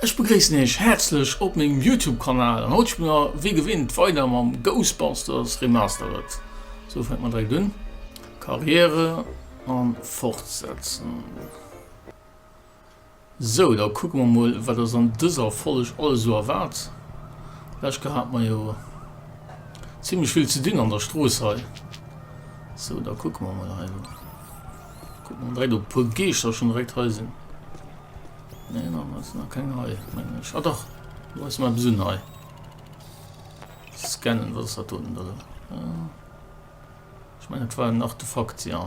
Ech begréissen Iech häerzlech op mengem Youtube Kanal an haut spille mer wéi gewinnt weider mam Ghostbusters Remastered. Sou fänke mer direkt un, Karriere an fortsetzen. Sou, da kucke mer mol, wat ass an dëser Folg alles esou erwaart. Lech Ke hate mer jo zimmlech vill ze dinn an der Strooss hei. Sou, da kucke mer mol hei. Kucke mer direkt, ob e puer Geeschter schonn direkt hei sinn. Nee, nach net, nach keng hei, mengen ech. Ah dach, do ass mar eppes un hei. Scannen, wat ass dat doten da? Ech mengen, dat war en Artefakt, jo.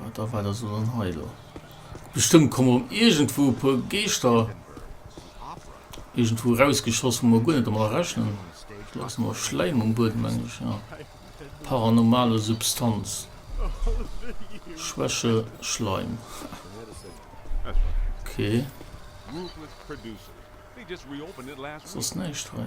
Wat a wat ass lo dann hei lo? Bestëmmt komme rëm iergendwou e puer Geeschter iergendwou erausgeschoss, wou mer guer net domat rechnen. Do ass nach Schläim um Buedem, mengen ech, ja. Paranormale Substanz. Schwäche Schleim. Okay. Soss näischt hei.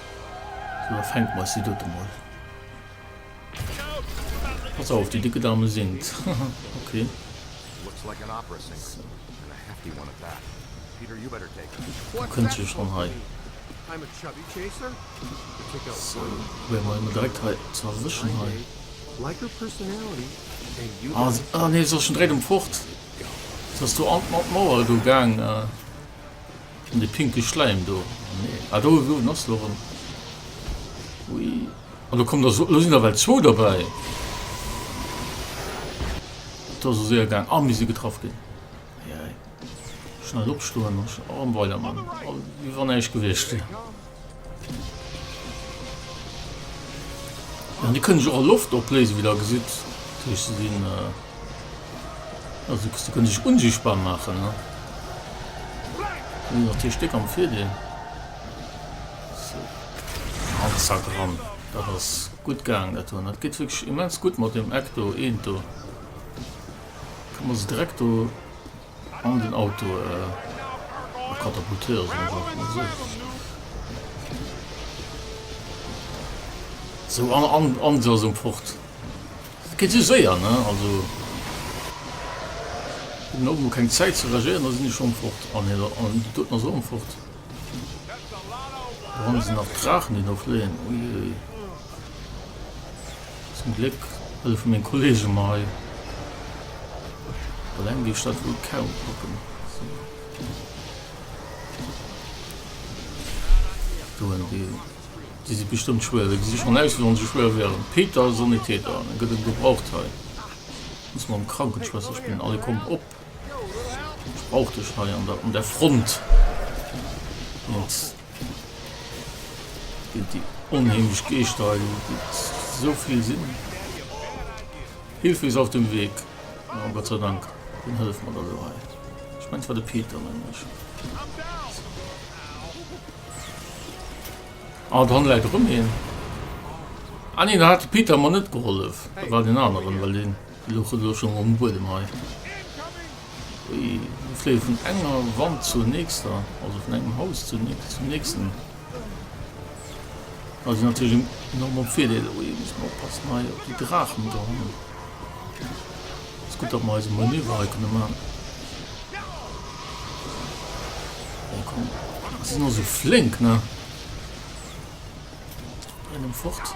Lo fänken mer si dote mol. Pass auf, déi décke Dame singt. okay. Da kënnt se schon hei. So, probieren mer emol direkt hei ze erwëschen hei. Ah, ah nee, se ass schon direkt emfort. Se ass do an d'Mauer do gaang. Äh. An de pinke Schläim do, nee, ah do, wou en ass lo erëm, ui, ah lo kommen der esou, elo sinn der ewell zwou derbäi, et ass esou séier gaang, ah mir si getraff ginn, ei ei, schnell opstoen a weiderman, wéi wann näischt gewiescht wier. An déi kënne sech och a Loft opléisen, wéi Der gesitt. Dat heescht, se sinn, also se kënne sech unsichtbar maachen. Déi hunn natierlech déck am Virdeel. Sou, an zack, ran. Dat ass gutt gaangen, dat do. Dat geet wierklech immens gutt mat deem Eck do, eent do. Kann mer se direkt do. An den Auto katapultéiere soll, wat och esou ass. Sou, an se ass emfort. Dat geet esou séier, ne? Also, hunn och emol keng Zäit ze reagéieren, da sinn déi scho emfort. An doten ass se och emfort. Wann se nach Draachen déi do fléien, uiuiui. Zum Gléck hëllefe meng Kollege mer hei. Eleng géif ech dat wuel kaum packen. Do en Deel. Déi si bestëmmt schwéier. Déi gesi schonn aus wéi wann se schwéier wieren. Peter, Sanitäter, en gëtt en gebraucht hei. Muss mam Krankenschwësserchen. Allez kommt op. Och duerch hei an der un der Front geet geet déi onheemlech Geeschter hei gitt esou vill sinn. Hilfe ist auf dem Weg! Oh Gott sei Dank, deen hëlleft mer da elo hei. Ech mengen et war de Peter, mengen ech. Ah, do hanne läit erëm een. Ah nee, do hat de Peter mer net gehollef. Dat war deen aneren, well deen. Luch elo schon mol um Buedem hei. Ui, mir fléie vun enger Wand zur nächster, also vun engem Haus zur nächst, zum nächsten. Da si natierlech enorm am Virdeel. Ui, muss mer oppassen hei op déi Draachen do hannen. Ass gutt, datt mer eise Manöver hei kënne man. Bon, komm, si sinn och esou flénk, ne? Rennen fort.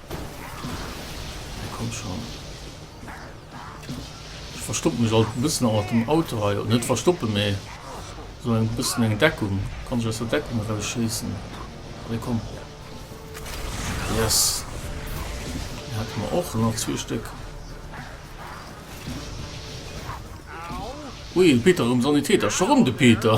Komm schon. Ech verstoppen mech alt e bëssen mat dem Auto hei. Oder net verstoppen, mee esou eng bëssen eng Deckung. Kann ech aus der Deckung eraus schéissen. Allez, komm. Yes. Déi hätte mer och nach zwee Stéck. Ui, de Peter erëm Sanitäter. Scho rëm de Peter.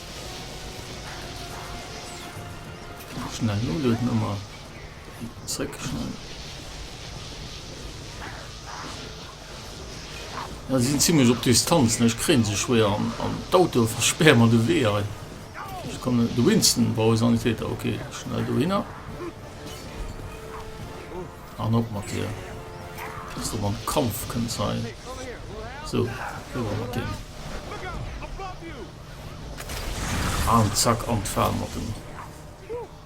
Schnell Nodel Nummer zréck schnell. Ja, sie sind ziemlich op Distanz ne? ich kre se schwer an, an d'Auto versperr man de Wee ein. Ich komme de Winston bei Sanitäter okay schnell du hinner an op mat dir so man Kampf können sein so mat dem. An zack an d'Fal mat dem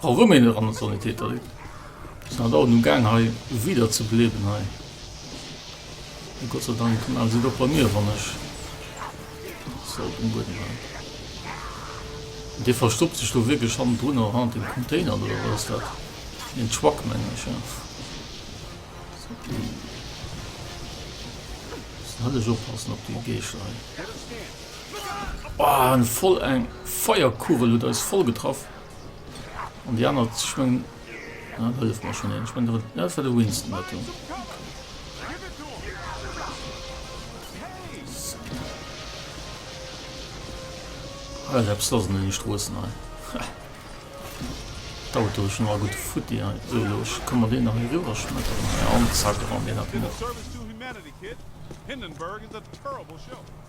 Roméin eran an Sanitéter. Et ass nach dauernd um gaang hei wieder ze bléiwen hei. Mee Gott sei Dank mellen se et och bei mir wann ech se op dem Buedem halen. Dee verstoppt sech do wierklech hannendrun a hanner dem Container do, oder wat ass dat? Een Truck mengen ech jo. Hëllech oppassen op déi Geescher hei. Ohh en voll eng Feierkugel huet eis voll getraff an déi aner ech mengen dat hëlleft mer schon een ech mengen dat war de Winston dat do. Well eppes lass an den Stroossen hei. Dauert do schon all gute Futti hei. So elo ech kann mer deen nach hei riwwer schmetteren hei an zack ran deen hat en och.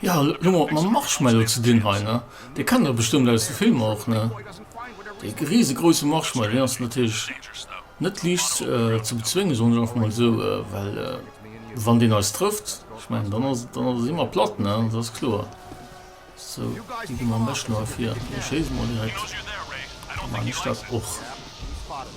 Jo, elo mat mam Marshmallow ze dinn hei, ne? Dee kennt der bestëmmt aus de Filmer och, ne? Dee risegrouse Marshmallow, deen ass natierlech net liicht ze bezwéngen, soen ech einfach mol esou, well wann deen eis trëfft, ech mengen, dann ass et, dann si mer platt, ne? Dat ass kloer. Sou, déi gi mer am beschten erëm vir. Déi schéisse mer direkt. Ech mengen, déi Stad och.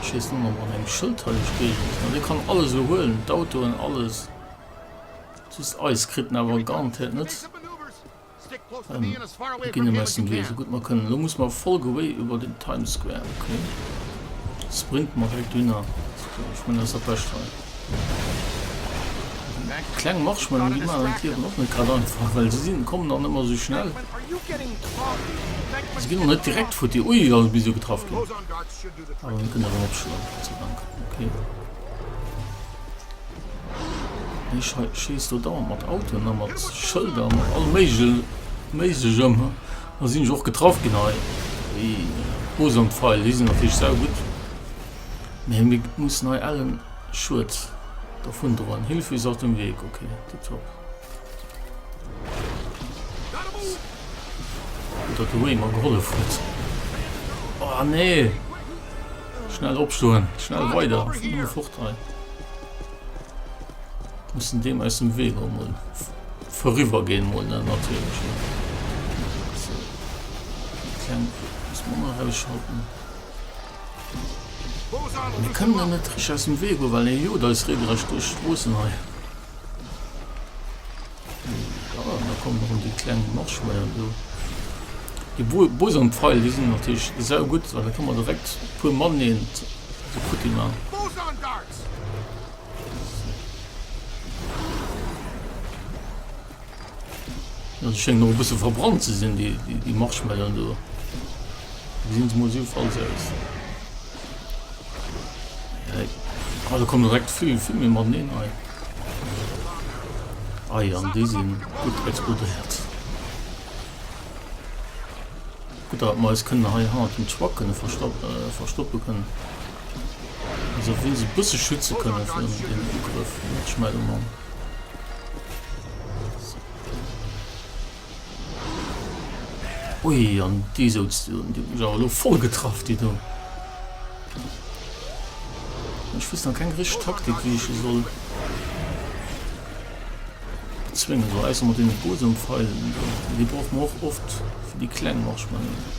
Ech wees net mol wan eng schëldheileg Géigend ass, mee dee kann alles elo huelen, d'Autoen, alles, just eis kritt en awer garantéiert net em, mer ginn em aus dem Wee sou gutt mer kënnen. Elo musse mer voll gewéi iwwer den Times Square, ok, sprinten mer direkt dohinner, ech mengen dat ass dat bescht hei. Kleng Marshmallowen gi maer an d'Liewen och net grad einfach, well se sinn kommen an ëmmer esou schnell. Se ginn och net direkt futti. Ui, ass e bis esou getraff ginn. Awer mir kënnen erëm opschloen, Gott sei Dank. Okay. Hie schei schießt do dauernd mat Autoen a mat Schëlder, mat allem Méigel Méiglechem. Da sinn ech och getraff ginn hei. Déi Bosompfeil, déi sinn natierlech saugutt. Mir hun ge muss nei ellen Schued dervun droen. Hilfe is auf dem Weg ok tip top. Gutt dat de Wayne mer gehollef huet. Oh nee! Schnell opstoen, schnell weider fort hei. Mussen deem aus dem Wee go mol verriwer gehen mol ne natürlich. Klein muss man mal rausschalten. Mir kënnen der net richteg aus dem Wee goen, well hie jot eis reegerecht duerch d'Stroossen hei. Voilà, mir kommen erëm déi kleng Marschweier do. Déi Bosanpfeil, déi sinn natierlech saugutt, well da ka mer direkt e puer mateneen esou futti maachen. An se schéngen och e bësse verbrannt ze sinn, déi Marshmallowen do. Gesinn se mol jiddefalls aus. Ah, da kommen direkt vill, vill méi mateneen hei. Ah ja, an déi sinn gutt explodéiert. Gutt, datt mer eis kënnen hei hannert dem Truck kënne verstoppe kënnen. Esou wéinstens e bësse schütze kënnen virun deem Ugrëff, Marshmallow Mann. Ui, an déi souz du, déi huet mech awer elo voll getraff, déi do. Ech wëss nach keng richteg Taktik, wéi ech se soll bezwéngen soll, ausser mat deene Bosompfeilen do. Déi brauche mer och oft fir déi kleng Marschmanéier.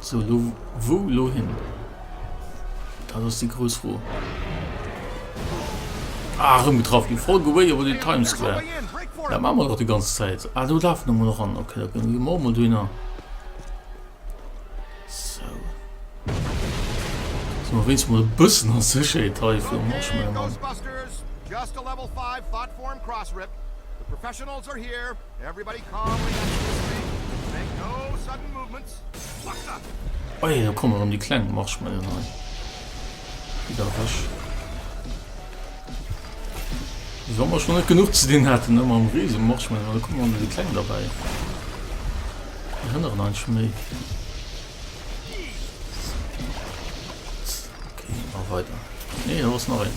Sou, elo wou elo hin? Dat ass déi grouss Fro. Ah, erëm getraff ginn. Voll Gewéier iwwer den Times Square. Dat maache mer dach déi ganz Zäit. Ah, do lafe mer nach an. Okay, da ginn mer och mol dohinner. Sou. Sinn mer wéinst mol e bëssen a Sécherheet hei fir um Marshmallow Mann. Oje, do kommen erëm déi kleng Marshmallowen hei. Déi da wech. Wéi wa mer schon net genuch ze dinn haten, ëmmer am riese Marshmallow, da kommen erëm déi kleng derbäi. Déi hënneren einfach méi. weiter. Nee, da ass nach een.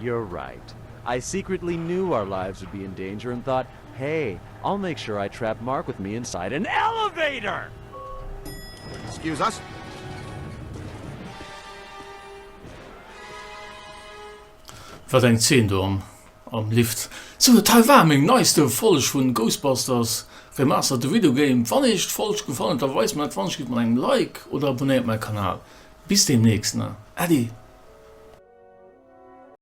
You're right. I secretly knew our lives would be in danger and thought, hey, I'll make sure I trap Mark with me inside an elevator! Excuse us. Wat eng Zeen do am Lift. Sou, dat hei war meng neiste Folg vun Ghostbusters, Remastered the Video Game. Wann iech d'Folg gefall huet, da weist mer dat, wann iech geet mat engem Like oder abonnéiert mäi Kanal. Bis deemnächst na, Ade!